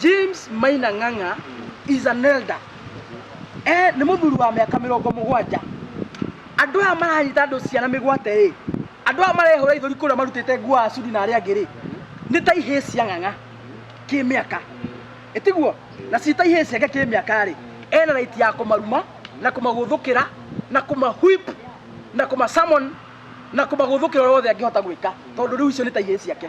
James Maina Ng'ang'a is an elder. Eh, nĩ mũthuri wa mĩaka mĩrongo mũgwanja. Andũ aya maranyita andũ ciana mĩgwate ĩ, andũ aya marehũra ithũri kũrĩa marutĩte nguo a Sudi na arĩa angĩ rĩ, nĩ ta ihĩĩ cia Ng'ang'a kĩmĩaka. Ĩtiguo, na ci ta ihĩĩ ciake kĩmĩaka rĩ, ena right ya kũmaruma na kũmagũthũkĩra na kũmahwip na kũmasummon na kũmagũthũkĩra ũrĩa wothe angĩhota gwĩka tondũ rĩu icio nĩ ta ihĩĩ ciake.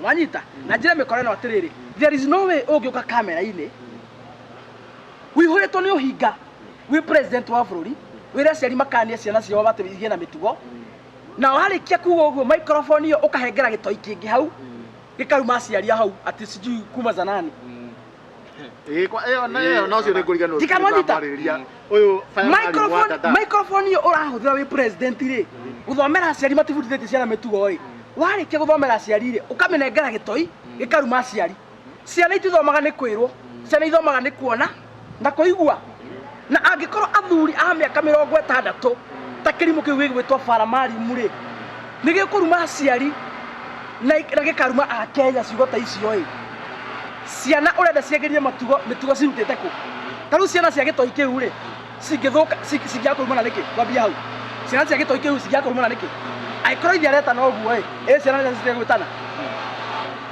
mwanyita na njĩre mĩkora ĩno atĩrĩrĩ there is no way ũngĩũka kamera-inĩ wĩihũrĩtwo nĩ ũhinga wĩ president wa bũrũri wĩra aciari makania ciana ciao batĩ igĩe na mĩtugo na warĩkia kuga ũguo microphone ĩyo ũkahengera gĩtoi kĩngĩ hau gĩkaruma aciari a hau atĩ sijui kuma zanani microphone yo urahuthira wi president ri guthomera aciari matibundithĩtie ciana mĩtugo ĩ warĩkia gũthomera aciari rĩ ũkamĩnengera gĩtoi gĩkaruma aciari ciana itithomaga nĩ kwĩrwo ciana ithomaga nĩ kuona na kũigua Na angĩkorwo athuri a mĩaka mĩrongo ĩtandatũ ta kĩrimũ kĩu gĩgwĩtwo Paramarimu-rĩ, nĩ gĩkũruma aciari na ik- na gĩkaruma a Kenya ciugo ta icio-ĩ, ciana ũrenda ciagĩrie matugo mĩtugo cirutĩte kũ? Ta rĩu ciana cia gĩtoi kĩu-rĩ, cingĩthũka ci- cingĩaga kũrumana nĩkĩ? Twambie hau. Ciana cia gĩtoi kĩu cingĩaga kũrumana nĩkĩ? Angĩkorwo ithe aretana ũguo-ĩ, ĩ ciana nĩ citige gwĩtana?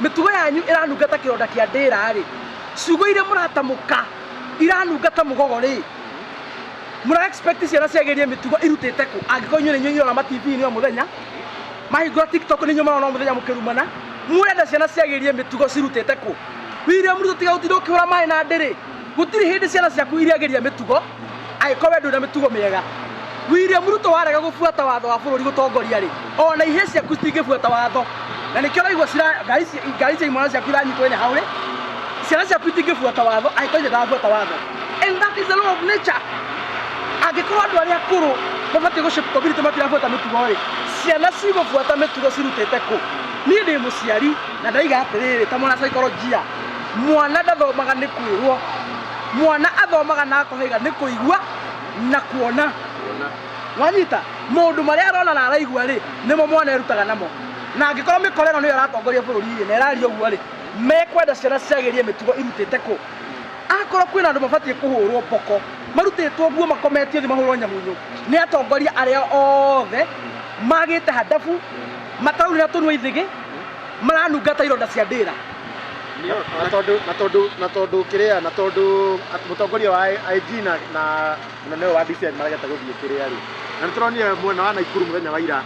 Mĩtugo yanyu ĩranunga ta kĩronda kĩa ndĩĩra-rĩ, ciugo iria mũratamũka iranunga ta mũgogo-rĩ, mũra expect ciana ciagĩrie mĩtugo irutĩte kũ? Angĩkorwo inyuĩ nĩ inyuĩ irona ma TV-inĩ o mũthenya, mahingũra TikTok nĩ inyuĩ marona o mũthenya mũkĩrumana, mũrenda ciana ciagĩrie mĩtugo cirutĩte kũ? William Ruto tiga gũtinda ũkĩhũra maĩ na ndĩrĩ, gũtirĩ hĩndĩ ciana ciaku irĩagĩria mĩtugo. Angĩkorwo we ndũrĩ na mĩtugo mĩega. William Ruto warega gũbuata watho wa bũrũri gũtongoria rĩ, ona ihĩĩ ciaku citingĩbuata watho. Na nĩkĩo ũraigua cira ngari ci- ngari cia imwana ciaku iranyitwo ĩrĩ hau rĩ, ciana ciaku itingĩbuata watho angĩkorwo ithe ndarabuata watho. And that is the law of nature. Angĩkorwo andũ arĩa akũrũ mabatiĩ gũshape community matirabuata mĩtugo rĩ, ciana cigũbuata mĩtugo cirutĩte kũ? Niĩ ndĩ mũciari na ndaiga atĩrĩrĩ ta mwana psychologia, mwana ndathomaga nĩ kwĩrwo Mwana athomaga na akohaiga nĩ kũigua na kuona. Wanyita? Maũndũ marĩa arona na araigua-rĩ, nĩmo mwana erutaga namo. Na angĩkorwo mĩkora ĩno nĩyo ĩratongoria bũrũri-rĩ, na ĩraria ũguo-rĩ, mekwenda ciana ciagĩrie mĩtugo irutĩte kũ? Akorwo kwĩna andũ mabatiĩ kũhũrwo mboko, marutĩtwo guo makometio thĩ mahũrwo nyamunyu, nĩ atongoria arĩa othe magĩte handabu, mataurĩra tũnua ithĩgĩ, maranunga ta ironda cia ndĩra na tondũ na tondũ na tondũ kĩrĩa na tondũ at- mũtongoria wa IG na na mũnene ũyũ wa DCI marageta gũthiĩ kĩrĩa rĩ na nĩ tũronire mwena wa Naikuru mũthenya wa ira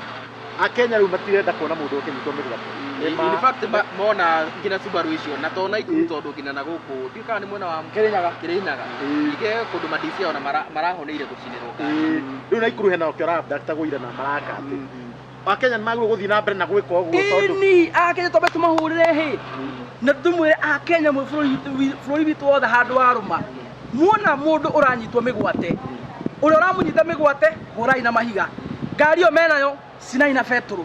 akenya rĩu matirenda kuona mũndũ ũkĩnyitwo mĩgwate Nĩ ma- in fact ma- mona nginya Subaru icio na tona ikuru tondũ nginya na gũkũ ndiũ kana nĩ mwena wa Kĩrĩnyaga. Kĩrĩnyaga Ĩĩ. ike kũndũ madisia ona mara- marahoneire gũcinĩrwo ngari. Ĩĩ, rĩu Naikuru hena okĩo arabda tagũira na maraka atĩ akenya nä magä guthiä na mbere na gwä ka å guo tondå ini akenya twambe tũmahũrĩre hĩ na tũmwĩre akenya mwĩ bũrũri witũ- wi- bũrũri witũ wothe handũ wa rũma muona mũndũ ũranyitwo mĩgwate ũrĩa ũramũnyita mĩgwate hũrai na mahiga ngari ĩyo menayo cinai na betũrũ